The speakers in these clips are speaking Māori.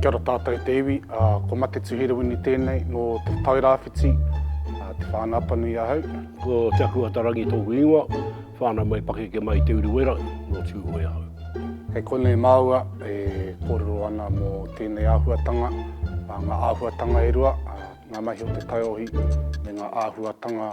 Kia ora tātou e te iwi, ko Mate Tuhirawini tēnei nō Te Tairāwhiti, Te Whānāpanui ahau. Ko Te Akuhata Rangi tōku ingoa, whānau mai pakeke mai i Te Urewera, nō Tūhoe ahau. Kei konei māua e kōrero ana mō tēnei āhuatanga, ngā āhuatanga e rua, ngā mahi o te taiohi me ngā āhuatanga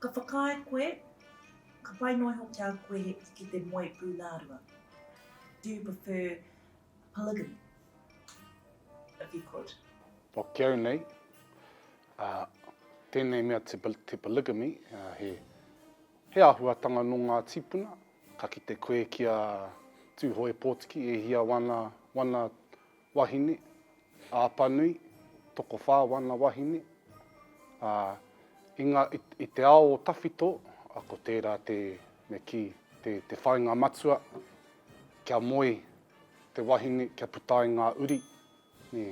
Ka whakaae koe, ka pai noa iho ki a koe ki te moe pūnārua. Do you prefer polygamy? If you could. Pakiau nei, ā, tēnei mea te, te polygamy, ā, he, he āhuatanga nō ngā tīpuna, ka kite koe ki a Tūhoe Pōtiki e hia wana, wana Wahine, Apanui, tokowhā wana wahine, ā, i ngā, i te ao o tawhito, ā, ko tērā te, me kī, te, te whāinga matua, kia moe te wahine, kia puta ai ngā uri, nē,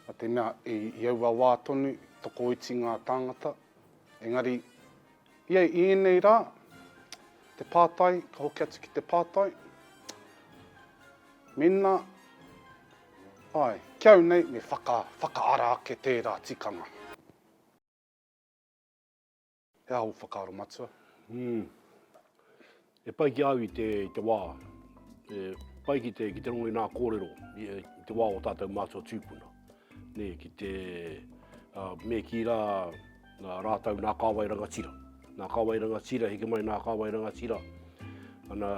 nā te mea, i, i aua wā tonu, tokoiti ngā tāngata, engari, Ia i ēnei rā, te pātai, ka hoki atu ki te pātai, Mēnā, āe, ki au nei me whaka, whakaara ake tērā tikanga. He aha ō whakaaro matua? He pai ki a au i te, i te wā, he pai ki te, ki te rongo i nā kōrero, i te wā o tātou mātua tūpuna. Nē, ki te, uh, me ki rā, nā rātou nā kāwai rangatira. Nā kāwai rangatira, heke mai nā kāwai rangatira. Ana,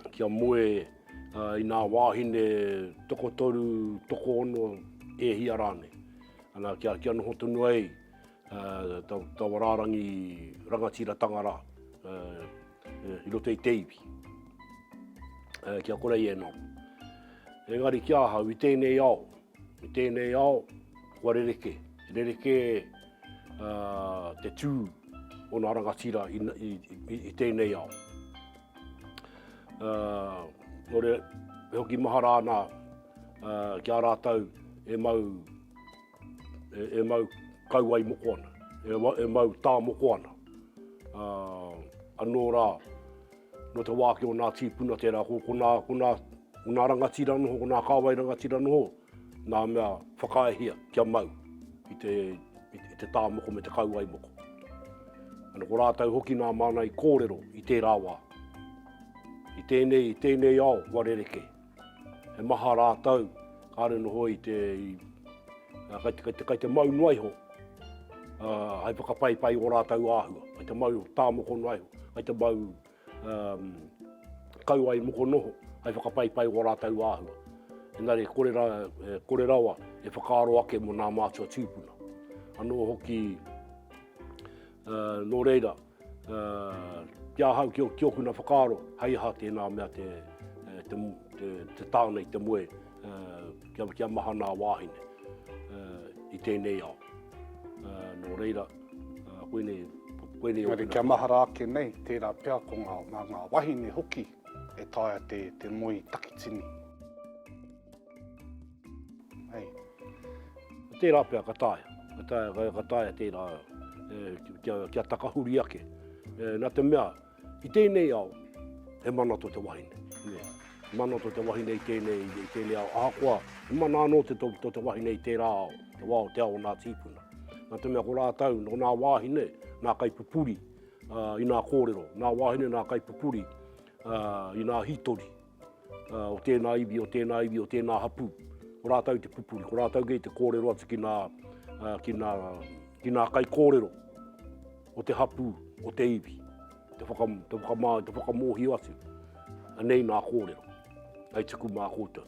kia moe uh, i nā wāhine tokotoru, tokoono, e hia rānei. Ana, kia, kia noho tonu ai, taua rārangi rangatiratanga rā i roto i te iwi. Kia kore i e noho. Engari ki ahau, i tēnei ao, i tēnei ao, kua rerekē. Rerekē te tū o nā rangatira i tēnei ao. Nō reira, e hoki mahara ana ki a rātou e mau E mau kauae moko ana, e mau tā moko ana. Anō rā, nō te wāki o nā tīpuna tērā, ko nā rangatira noho, ko nā kāwai rangatira noho, nā mea whakaaehia kia mau i te tā moko me te kauae moko. Ana ko rātou hoki nā māna i kōrero i tērā wā, i tēnei ao wā rerekē. He maha rātou, kāre noho i te, kei te, kei te mau noa iho, hai whakapaipai i o rātou āhua, kei te mau tā moko noa iho, kei te mau um, kau ai moko noho, hai whakapaipai i o rātou āhua. Engari, kore, ra, eh, kore rawa e whakaaro ake mo nā mātua tūpuna. Anō hoki, uh, nō reira, Ki ahau, ki okuna whakaaro, hei aha tēnā mea te tāne i te moe kia mahana a wāhine i tēnei ao. Nō reira, koinei okuna... Engari kia mahara ake nei, tērā pea ko ngā wahine hoki e taea te moe i takitini. Hei. Ko tērā pea ka taea. Ka taea, ka taea tērā kia, kia takahuri ake. Nā te mea, i tēnei ao, he mana tō te wahine. Yeah. Mana tō te wahine i tēnei, i tēnei ao. Ahakoa, he mana anō te, tō, tō te wahine i tērā ao, te wao, te ao o nā tīpuna. Nā te mea ko rātau, nō nā wāhine, nā kaipupuri, uh, i nā kōrero, nā wāhine, nā kaipupuri, uh, i nā hītori, o tēnā iwi, o tēnā iwi, o tēnā hapū. Ko rātau te pupuri, ko rātau kei te kōrero atu ki nā, ki nā, ki nā kai kōrero o te hapū, o te iwi. Te, whaka, te, whakamā, te whakamōhio atu. Anei nā kōrero. Hei tuku mā koutou.